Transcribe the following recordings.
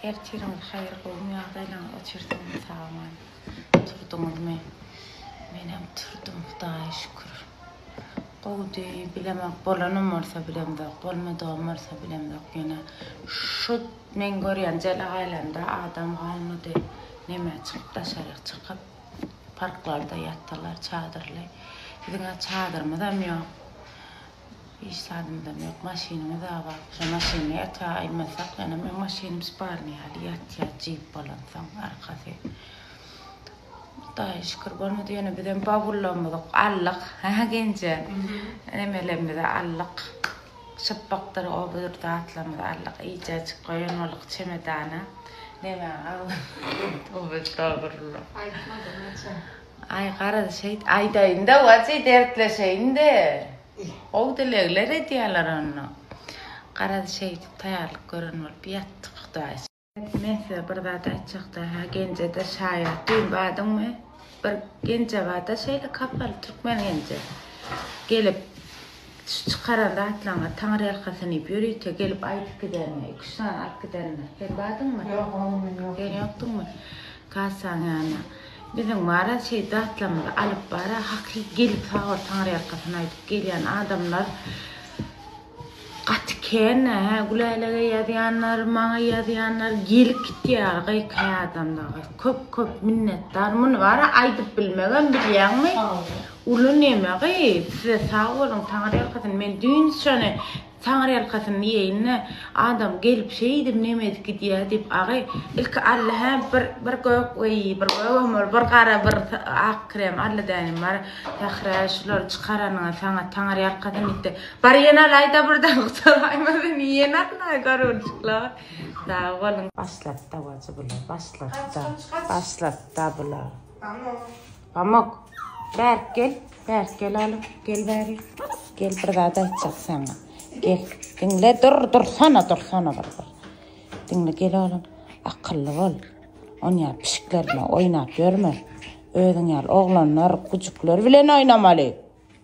Ertiriňiz haýyr gowmy ýagdaýlaryňyz oçersiňiz saman turduňyzmy men hem turdum hudaýa şükür gowudy bilemok bolanym bolsa bilemzok bolmadygym bolsa bilemzok ýöne şu men görýän jelegaýlamda adam galmady neme çykyp daşaryk çykyp parklarda ýatdylar çadyrly biziňä çadyrymyzam ýok Hiç zadymdam ýok. Maşynymyz a bar. Şo maşyny ata aýmasak ýene meň maşynym sparnyý ýaly ýatýar jeep bolansoň arkasy. Hudaýa şükür bolmady ýöne bizem bawullarymyzy aldyk. Hä Genje. Nemelerimizi aldyk. Çypbakdyr o budur zatlarymyzy aldyk. Eýjäjik goýan boldyk çemedana. Nebä galdy. Towba estagfirullah. Aýtma-da naçe. Aý garaz şeýt aýdaýynda wajy dertleşeýinde gowy dilegler edýäler onda garaz şeýdip taýýarlyk gören bolup ýatdyk hudaý Men size bir zat aýtjakda hä genjede şaýat düýn badyňmy bir genjebada şeýle kapaly türkmen genje gelip Şu çykaran zatlaryňa taňryýalkasyn diýip ýörite gelip aýdyp gidermi? Iki-üç sany alyp gidermi? Sen bardyňmy? Ýok, o gün men ýokdum. Sen ýokduňmy? Kassaň ýanyna. Biziň Maral şeýdip zatlarymyzy alyp bar-a, hakyky gelip sag bol taňryýalkasyn aýdyp gelýän adamlar gaty kän-ä, hä, Gülälege ýazýanlar, maňa ýazýanlar gelip gitýär gykaý adamlar. Köp-köp minnetdar. Muny bara aýdyp bilmegem bilýäňmi? Sag bol. Uly neme gyy size sag boluň taňyrýalkasyn men düýn syçany taňyrýalkasyn diýeýinde adam gelip şeýdip neme edip gidýä diýip agy ilki alla hä bir bir gök weý bir gögem bol bir gara bir ak krem alla dänem bar Sährä şulary çykaranyňa saňa taňyrýalkasyn diýipdi bar ýene alaýda birden gutaraýma meni ýene alaý garunçyklar sag boluň. Başlady dawajy bular başlady da başlady da bular. Pamuk, bärik gel, bärik gel alym, gel bäri. Gel bir zat aýtjak saňa. Gel, diňle, dur, dursana, dursana bir bir. Diňle gel alym, akylly bol. On ýa pişikler bilen oýnap ýörme. Özüň ýaly oglanlar, güjükler bilen oýnamaly.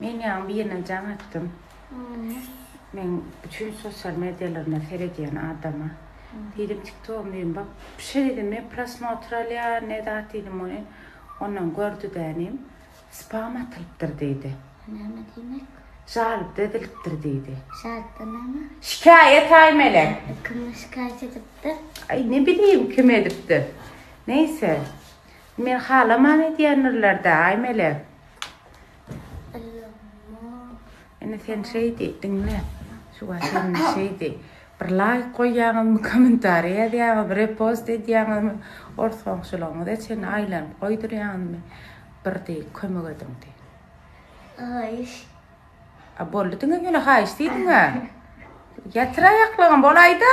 Men ýaňy birine jaň atdym. Meň bütin sosial mediýalarymda seredýän adama. Diýdim TikTogymy diýdim bak pişe diýdim men prosmotr alýan ne zat diýdim ony ondan gördi dänim spam atylypdyr diýdi. Näme diýmek? Žalb edilipdir diýdi. Şatda näme? Şikaýat aýmele. Kim şikaýat edipdir? Aý ne bileyim kim edipdir. Neýse. Men halaman edýändirlerde aý melek. Ine sen şeýdi, diňle. Şu wagt sen şeýdi. Bir laýk goýýaňyzmy, kommentariý ýazýaňyzmy, repost edýäňizmi, ors goňşularyňyza çenli aýlanyp goýdurýaňyzmy, bir diý, kömek ediň diý. Haýyş. A boldy diňe ýöne haýyş diýdiň-ä. Ýatyr aýaklaryň bolaýda.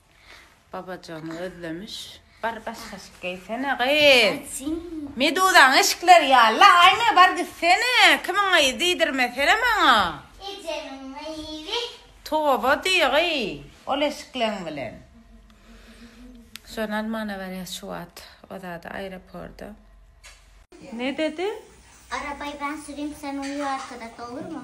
Babajygyny gözlemiş. Bar baş kaşyk geýsene gyz. Meduzaň eşikleri ýalla aýna bar gitsene. Kimiň gyzy diýdirmesene maňa. Ejemiň gyzy. Toba diý gyz ol eşikleň bilen. Şony almana barýas şu wagt. O zady aeroporda. Ne dedi? Arabaýy ben sürim sen uyu arkada dolurmy?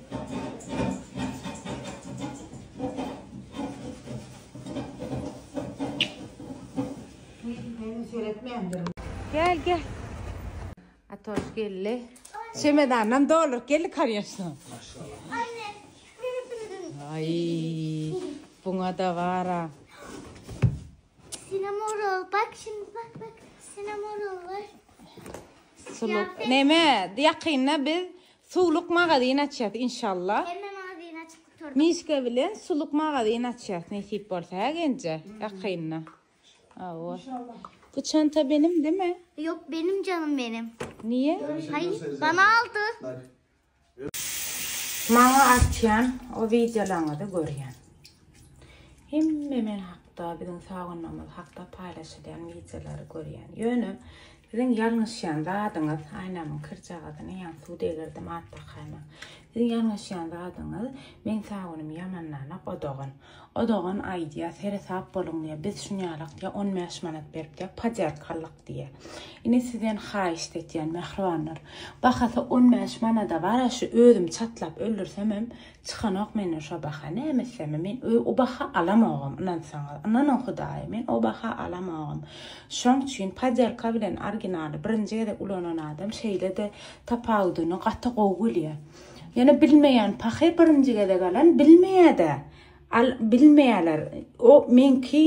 Gel gel. Atoş geldi. Çemedandan doldurup geldi karyaşla. Ay, buna da var ha. Sinamorol bak şimdi bak bak. Sinamorol var. Suluk. Neme, yakynda biz Suwluk magazin açýas inşallah. Hemme magazini açyp gutardyk. Mişka bilen suluk magazin açýas nesip bolsa hä Genje ýakynda. Hawa. Bu çanta benim deme. Yok benim canım benim. Niye? Hay bana aldı. Maňa atýan o wideolaňyzy görýän. Hemme men hakda, biziň Sagunamyz hakda paýlaşylýan wideolary görýän. Ýöne siziň ýalňyşýan zadyňyz, aýnamyň kirjagazyny ýaňy suw degerdim at dakaýma. Siziň ýalňyşýan zadyňyz, meň Sagunym ýamandanok o dogan. O dogan aýdýa, seresap boluň diýýä, biz şunýalak diýýä, on bäş manat berip diýýä, podýarka aldyk diýýä. Ine sizden haýyşt etýän mähribanlar. Bahasy on bäş manada bar-a şu özüm çatlap öldürsemem, Çykanok menden şo baha näme etsem men o baha alamogam ynansaňyz ynanyň hudaýa men o baha alamogam şoň üçin podýalka bilen originaly birinji gezek ulanan adam şeýlede tapawudyny gaty gowy bilýär ýöne bilmeýän pahy birinji gezek alan bilmeýäda al bilmeýäler o meňki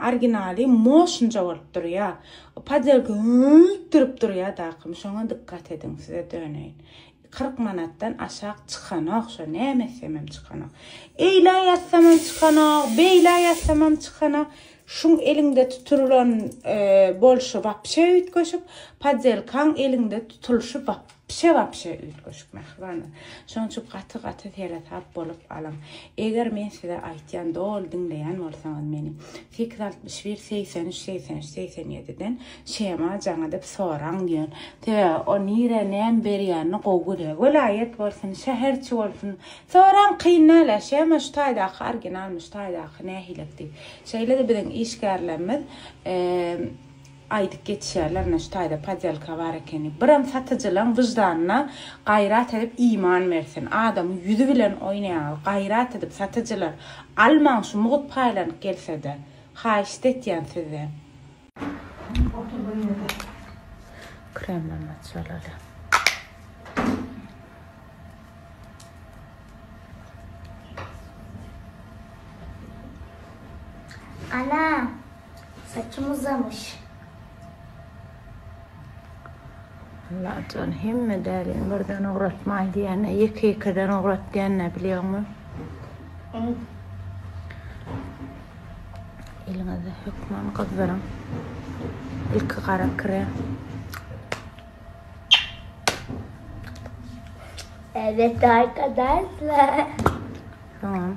originaly moşnja bolup durýar podýalka turip durýar dakym şoňa dykgat ediň size döneýin Kyrk manatdan aşak çykanok şo näme etsemem çykanok. Eýlä ýazsamam çykanok, beýlä ýazsamam çykanok. Şuň eliňde tutulan e, bolşy wapşe üýtgeşik, podzelkaň eliňde tutulşy wap pişe wapşe üýtgeşik mähribanlar. Şoň üçin gaty gaty seresap bolup alyň. Eger men size aýtýan doly diňleýän bolsaňyz meni, Sekiz altmyş bir segsen üç segsen üç segsen ýediden şema jaňadyp soraň diýen sebäbi o nirä näme berýänini gowy görýä welaýat bolsun şäherçi bolsun soraň kyn däl a şema şu taýdaky orginalmy şu taýdaky nähilek diýip şeýlede biziň işgärlerimiz Aýdyp geçýärler naş taýda podýalka bar ekeni. Biram satyjylaň wyždanyna gaýrat edip iman bersin. Adamyň ýüzi bilen oýnaýaňyz. Gaýrat edip satyjylar almaň şu mugut paýlanyp gelsede. Haýyşt etýän sizden. Sen otur bir ýerde. Kremden başalaly. Ana. Saçym uzamyş. Allajan hemme dälini birden ugratmaý diýende ýeke ýekeden ugrat diýende bilýäňmi? Eliňizi hökman gyzdyryň. Ilki gara krem. Evet arkadaşlar. Soňam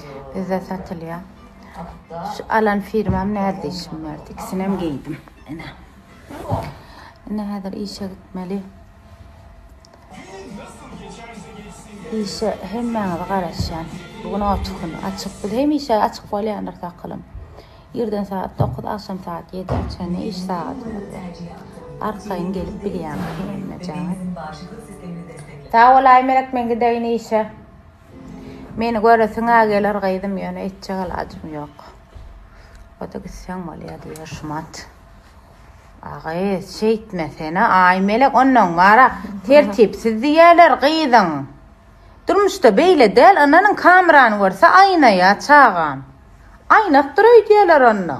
Bizde satylýar. Şu alan firmam närdişim bardy. İkisinem geýdim. Ene. Ene häzir işe gitmeli. İşe hemmäňizi garaşýan. Bugün otuş gün açyk. Biz hemişe açyk bolýandyr sakylym. Irden saat 9, agşam saat 7 çenli iş sagatymyz. Arkaýyn gelip bilýäňiz hemmejaňyz. Sag bol Aýmelek, men gideýin işe. Meni göresiň-ä geler gyzym, ýöne etjek alajym ýok. O-da gitseň bolýa diýýär Şumat aga. Şeýtmesene, Aýmelek, ondan gara tertipsiz diýerler gyzyň. Durmuşda beýle däl, ynanyň kamerany görse aýnaýa çagam. Aýnakdyr öýdýärler onda.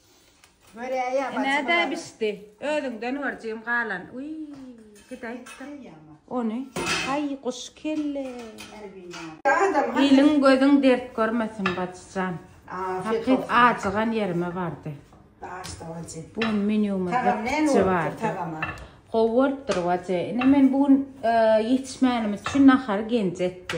Göräýýä bacym. Nädä bişdi? Özüňden görjegim galan. Uý, gidäýipdir. Ony, aý, guş kelle. Iliň gözüň dert görmesin, bacıjan. Hakyt ajygan ýerime bardy. Başda bacı. Bu gün menýumyz bitdi bardy. Gowy bolupdyr bacı. Ine men bu gün ýetişmänimiz üçin nahary genji etdi.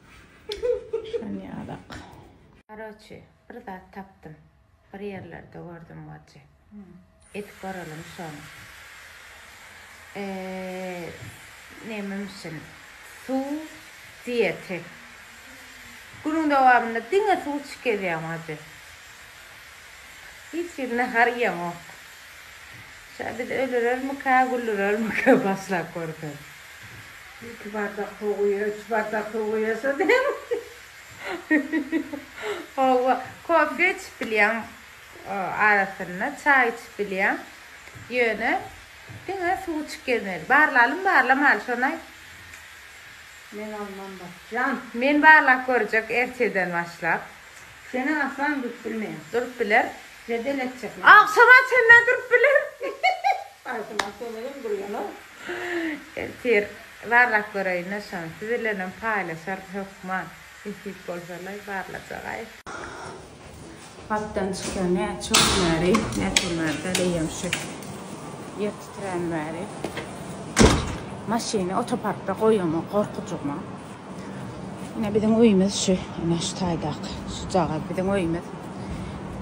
Şanyýalak. Karoçi, bir zat tapdym. Bir ýerlerde gördüm wajy. Edip göreliň şony. Eee, näme müşin? Suw, diýeti. Günüň dowamynda diňe suw içip gezýäň wajy. Hiç hili nahar iýeňok. Şa biz ölürermika, güldürermika başlap görseň. Iki bardak suw guýýa, üç bardak suw guýýa şo diýen. Howwa, kofe içip bilýän arasynda, çaý içip bilýän. Ýöne diňe suw içip gezmeli. Barlalymy, barlamaly şonaý? Men alman bakjan. Men barlap görjek ertirden başlap. Seniň aslan durup bilmeýär. Durup biler. Jedel etjek. Agşam açanda durup biler. Agşam açanda hem durýan-ow. Ertir barlap göreýinle şony siz bilenem paýlaşarys hökman nesip bolsalaý barlajagaý. Hatdan çykýan näçe gün bäri näçe bäri däl eýýäm şu ýer titrän bäri maşyny otoparkda goýamok gorkujygma ine biziň öýümiz şu ine şu taýdaky şujagaz biziň öýümiz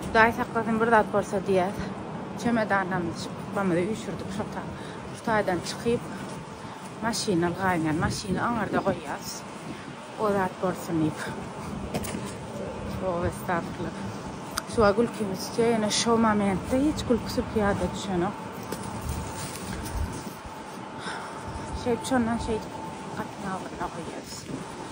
hudaý saklasyn bir zat bolsa diýýäs çemedanlarymyzy şypbamyzy üýşürdik şota. Şu taýdan çykyp, maşyny ylgaýyndan maşyny aňarda goýýas. O zat bolsun diýip. Toba estagfirullah. Suwa gülkim düşýä ýöne şo momentde hiç gülki sülki ýada düşenok. Şeýdip şondan şeýdip gapyny agzyna goýýas.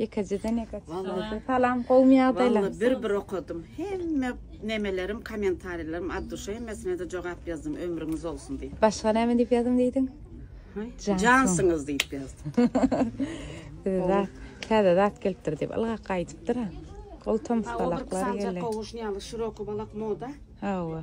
Ýekejeden ýeke çykyp. Salam, gowmy ýagdaýlaryň? Walla bir bir okadym. Hemme nemelerim, kommentariýalarymy at duşa hemmesine de jogap ýazdym. Ömrüňiz bolsun diýip. Başga näme diýip ýazyň diýdiň? Jansyňyz diýip ýazdym. Size täze zat gelipdir diýip ylgap gaýdypdyr. Gowy tomusgalaklar geldi. Gowuşny ýaly şiroký balak moda. Hawa.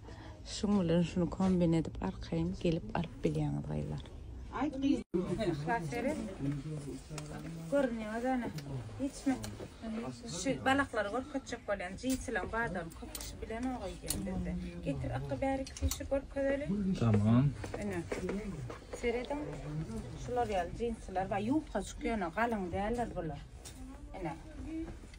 Şuň bilen şunu kombin edip arkaýyn gelip alyp bilýäňiz gyzlar. Aýt gyz. Şaşere. Görünýäňiz ana. Hiçme. Şu balaklary görkezjek bolýan jiýsilen badam köp kişi bilen o goýýan bizde. Getir akga bärik fişi görkezeli. Tamam. Ene. Serediň. Şular ýaly jinsler we ýubka çykýan galyň däller bular. Ene.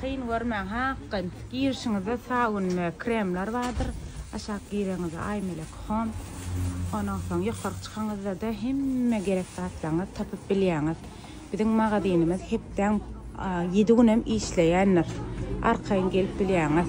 Kyn görmäň ha akgyn. Girişiňizde sabun we kremler bardyr. Aşak gireňizde Aýmelek Home. Ondan soň ýokaryk çykaňyzda-da hemme gerek zatlaryňyzy tapyp bilýäňiz. Biziň magazynymyz hepdäň ýedi günem işleýändir. Arkaýyn gelip bilýäňiz.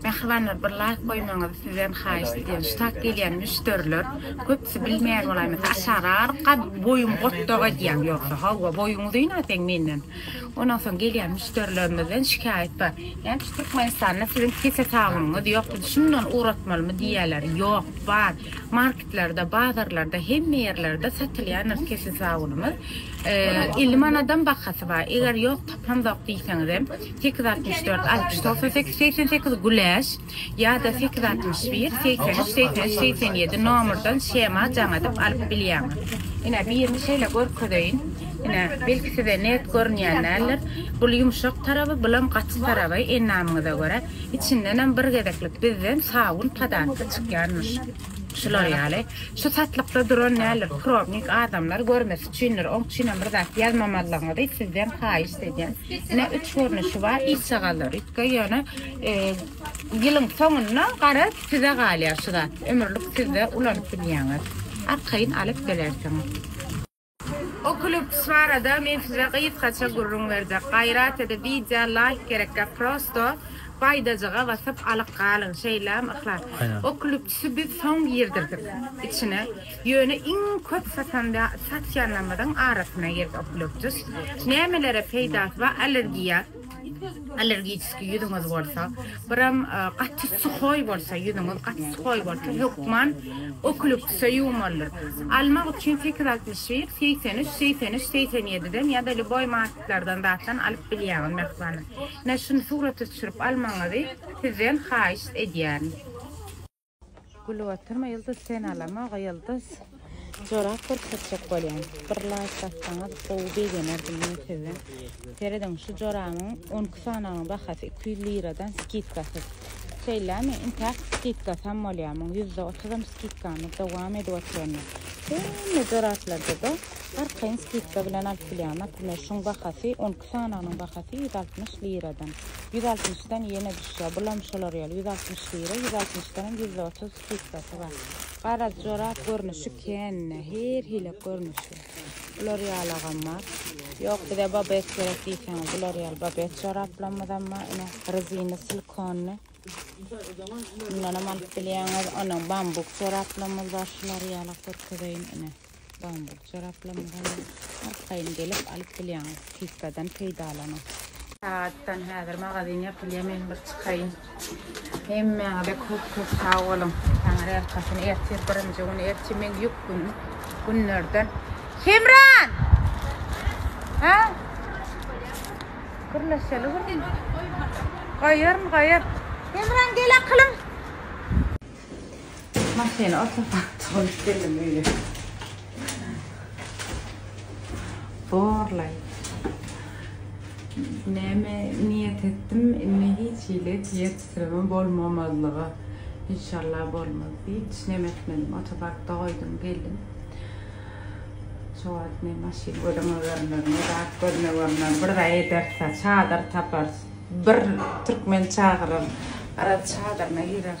Mähribanlar bir laýk goýmaňyzy sizden haýyşt edýän şu tak gelýän müşderiler köpüsi bilmeýär bolaýmasyn aşagy aryp gad boýuň gotdag edýäň ýogsa hawa boýuň uzyn a seň menden ondan soň gelýän müşderilerimizden şikaýat bar näme üçin türkmenistanda siziň pese sabynyňyz ýok bizi şundan ugratmalymy diýýäler ýok bar marketlerde bazarlarda hemme ýerlerde satylýandyr pese sabynymyz elli manadam bahasy bar eger ýok tapamzok diýseňizem Sekiz altmyş dört altmyş togsan sekiz segsen sekiz güläş ýa-da sekiz altmyş bir segsen üç segsen üç segsen ýedi nomyrdan shema jaňadyp alyp bilýäňiz. Ine birini şeýle görkezeýin. Ine belki size net görünýän däldir. Bul ýumşak taraby bulam gaty taraby endamyňyza görä. Içindenem bir gezeklik bizden sabun padatka çykýanmyş. Şular ýaly. Şu satlykda duran däldir probnik adamlar görmesin. Üçindir, oň üçinem bir zat ýazmamalygyňyzy sizden haýyşt edýän. Ine üç görnüşi bar işçagalary itge ýöne ýylyň soňunda garaz size galýar şu zat. Ömürlik sizde ulanyp bilýäňiz. Arkaýyn alyp bilersiňiz. Oculus barada men size gysgaça gürrüň berjek. Gaýrat edip wideo laýk gerekgä prosto baýdajyga basyp alyp galyň şeýlämi Yhlas. Oculus-y biz soň girdirdik içine. Ýöne iň köp satan we satýanlarymyzyň arasyna girdi oklýuptus. Nämelere peýdasy bar? Allergiýa, allergiçeskiý ýüzüňiz bolsa, biram gaty suhoý bolsa, ýüzüňiz gaty suhoý bolsa, hökman oklýuptusa ýuwmalydyr. Almak üçin sekiz altmyş bir, segsen üç, segsen üç, segsen ýediden ýa-da lýuboý marketlerden zatdan alyp bilýäňiz mähwana. Menä şuny surata düşürip almagyňyzy sizden haýyşt edýärin. Gülüp oturma Ýyldyz sen alamog Ýyldyz jorap görkezjek bolýan bir laýk bassaňyz gowy begenerdim men size serediň şu jorabyň on iki sanagynyň bahasy iki ýüz liradan skidkasyz şeýlämi intäk skidkasy hem bolýar muň ýüzde otuzam skidkamyz dowam edip oturanda hemme joraplarda da arkaýyn skidka bilen alyp bilýäň naprimýer şuň bahasy on Sanagynyň bahasy ýüz altmyş liradan. Ýüz altmyşdan ýene düşýär. Bulam şolar ýaly, ýüz altmyş lira, ýüz altmyşdanam ýüz otuz skidkasy bar. Garaz, jorap görnüşi kän-ä, her hili görnüşi. Bular ýalagam bar. Ýok, bize babet gerek diýseňiz, bular ýaly babet joraplarymyzam bar. Ine, rezini, silkonly. Mundanam alyp bilýäňiz. Ondan bambuk joraplarymyz bar, şular ýala görkezeýin, ine. Bambuk jaraplamyzam arkaýyn gelip alyp bilýäňiz. Skidkadan peýdalanyň. Sagatdan häzir magazin ýapylýar men bir çykaýyn. Hemmäňize köp köp sag boluň. Taňry erkasyn ertir birinji gün ertir meň ýük günüm günlerden. Hemran! Ha? Gürleşeli gürleşeli. Gaýaryn gaýar. Hemran gel akylym. Maşyny oturtapdy goýup geldim öýe. Borlaý. Näme niýet etdim, indi hiç hili ýetişdiremem bolmamazlyga. Inşallah bolmaz diýip, hiç näme etmedim. Otoparkda goýdum, geldim. Şu wagt ne maşyn gözüňe görner, ne zat gözüne görner. Bir zat ederse, çadyr tapar. Bir türkmen çagyrar, gara çadyryna girer.